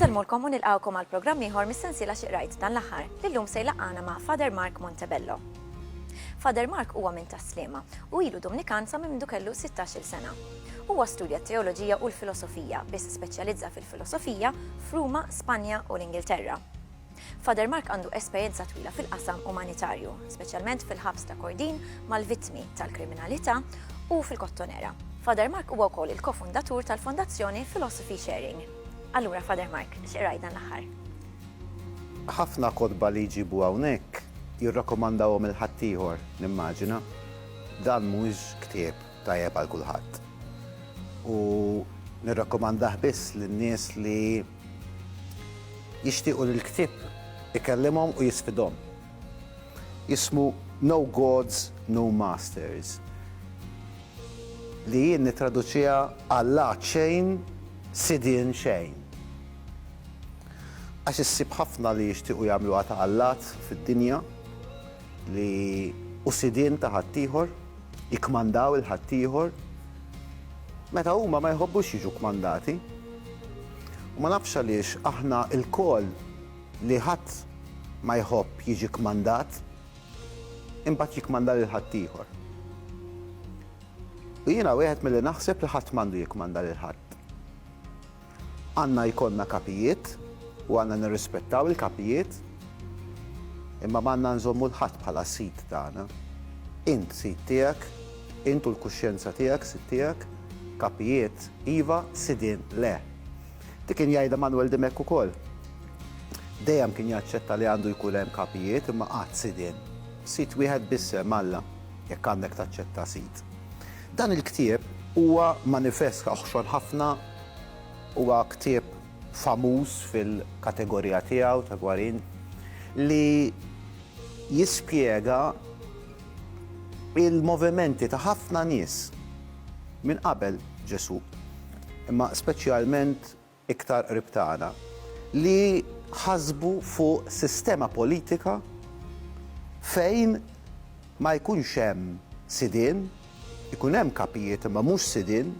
Insellmulkom u nilqgħukom għal programm ieħor mis-sensiela Xi Qrajt dan l-aħħar li llum se jlaqqana ma' Father Mark Montebello. Father Mark huwa minn Tas-Sliema u ilu Dumnikan sa minn mindu kellu 16-il sena. Huwa studja t-teoloġija u l-filosofija, biss speċjalizza fil-filosofija, f'Ruma, Spanja u l-Ingilterra. Father Mark għandu esperjenza twila fil-qasam umanitarju, speċjalment fil-ħabs ta' Kordin mal-vittmi tal-kriminalità u fil-Kottonera. Father Mark huwa wkoll il-kofundatur tal-Fondazzjoni Philosophy Sharing. Allura Father Mark, x'qraj dan l-aħħar? Ħafna kotba li jġibu hawnhekk jirrakkomandawhom il ħaddieħor, nimmaġina. Dan mhuwiex ktieb. tajjeb għal kulħadd u nirrakkomandah biss lin-nies li jixtiequ li l-ktieb ikellimhom u jisfidhom. Jismu No Gods, No Masters li jien nittraduċiha Alla xejn, Sidien xejn. Għax issib ħafna li jixtiequ jagħmluha ta' allat fid-dinja li hu sidien ta' ħaddieħor. jikkmandaw lil ħaddieħor meta huma ma jħobbux jiġu kkmandati. U ma nafx għaliex aħna lkoll li ħadd ma jħobb jiġi kmandat, imbagħad jikkmanda lil ħaddieħor. U jiena wieħed milli naħseb li ħadd m'għandu jikkmanda lil ħadd. Għandna jkollna kapijiet u għandna nirrispettaw il-kapijiet, imma m'għandna nżommu 'l ħadd bħala sid tagħna. Int sid tiegħek, int u l-kuxjenza tiegħek sid tiegħek, kapijiet iva, sidien le. Dik kien jgħidha Manwel Dimech ukoll. Dejjem kien jaċċetta li għandu jkun hemm kapijiet imma qatt sidien. Sid wieħed biss hemm, Alla, jekk għandek taċċetta sid. Dan il-ktieb huwa manifest oħxon ħafna Huwa ktieb famuż fil-kategorija tiegħu ta' Guarin li jispjega l-movimenti ta' ħafna nies minn qabel Ġesù, imma speċjalment iktar qrib tagħna, li ħasbu fuq sistema politika fejn ma jkunx hemm sidien, Ikun hemm kapijiet imma mhux sidien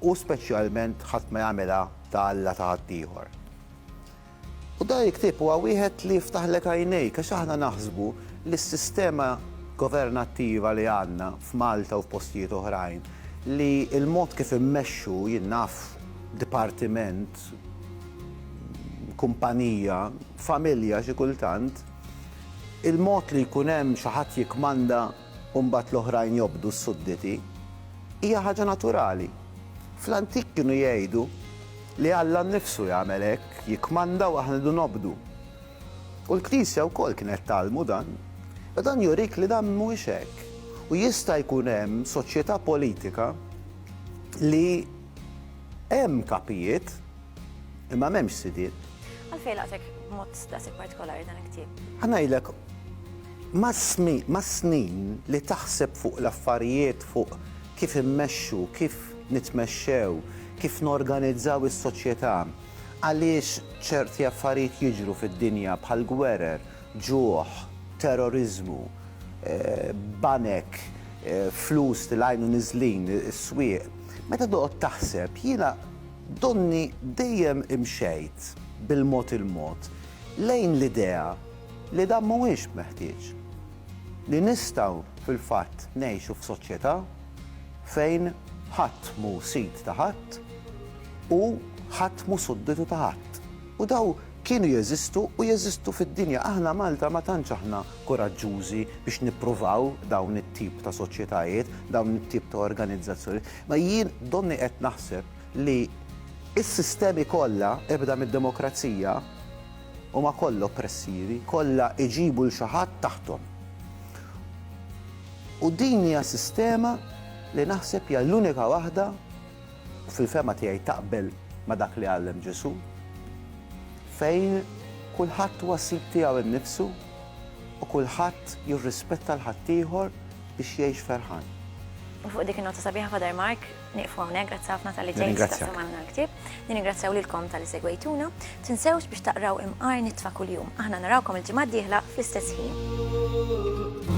u speċjalment ħadd ma jagħmilha ta' alla ta' ħaddieħor. U dan il-ktieb huwa wieħed li jiftaħlek għajnejk għax aħna naħsbu li s-sistema governattiva li għandna f'Malta u f'postijiet oħrajn li l-mod kif immexxu jien naf dipartiment, kumpanija, familja xi kultant, Il-mod li jkun hemm xi ħadd jikkmanda u mbagħad l-oħrajn jobdu, s-sudditi, hija ħaġa naturali. Fl-antik kienu jgħidu li Alla nnifsu jagħmel hekk, jikkmanda u aħna rridu nobdu. U l-Knisja wkoll kienet tgħallmu dan. Iżda dan jurik li dan mhuwiex hekk u jista' jkun hemm soċjetà politika li hemm kapijiet, Imma m'hemmx sidiet. Għalfejn laqtek b'mod daqshekk partikolari dan il-ktieb? Ħanajdlek, mas-snin li taħseb fuq l-affarijiet, fuq kif immexxu, kif nitmexxew, kif norganizzaw is-soċjetà, għaliex ċerti affarijiet jiġru fid-dinja bħal gwerer, ġuħ, terroriżmu, banek, flus li lajn u niżlin, is-swieq, meta toqgħod taħseb, jiena, Donni dejjem imxejt bil-mod il-mod lejn l-idea li dan mhuwiex meħtieġ. Li nistgħu fil-fatt ngħixu f'soċjetà fejn ħadd mhu sid ta' ħadd u ħadd mhu sudditu ta' ħadd. U dawn kienu jeżistu u jeżistu fid-dinja. Aħna Malta ma tantx aħna kuraġġużi biex nippruvaw dawn it-tip ta' soċjetajiet, dawn it-tip ta' organizzazzjonijiet. Ma jien donni qed naħseb li s-sistemi kollha, ibda mid-demokrazija, huma kollha oppressivi, kollha jġibu 'l xi ħadd taħthom. U din hija sistema li naħseb hija l-unika waħda, u fil-fehma tiegħi taqbel ma' dak li għallem Ġesù, fejn kulħadd huwa sid tiegħu nnifsu u kulħadd jirrispetta l-ħaddieħor, biex jgħix ferħan. U fuq dik in-nota sabiħa Father Mark, nieqfu hawnhekk, grazzi ħafna tal-li ġejt taqsam għandna l-ktieb. Nirringrazzjaw lilkom tal-li segwejtuna. Tinsewx biex taqraw imqar nitfa' kuljum. Aħna narawkom il-ġimgħa d-dieħla fl-istess ħin.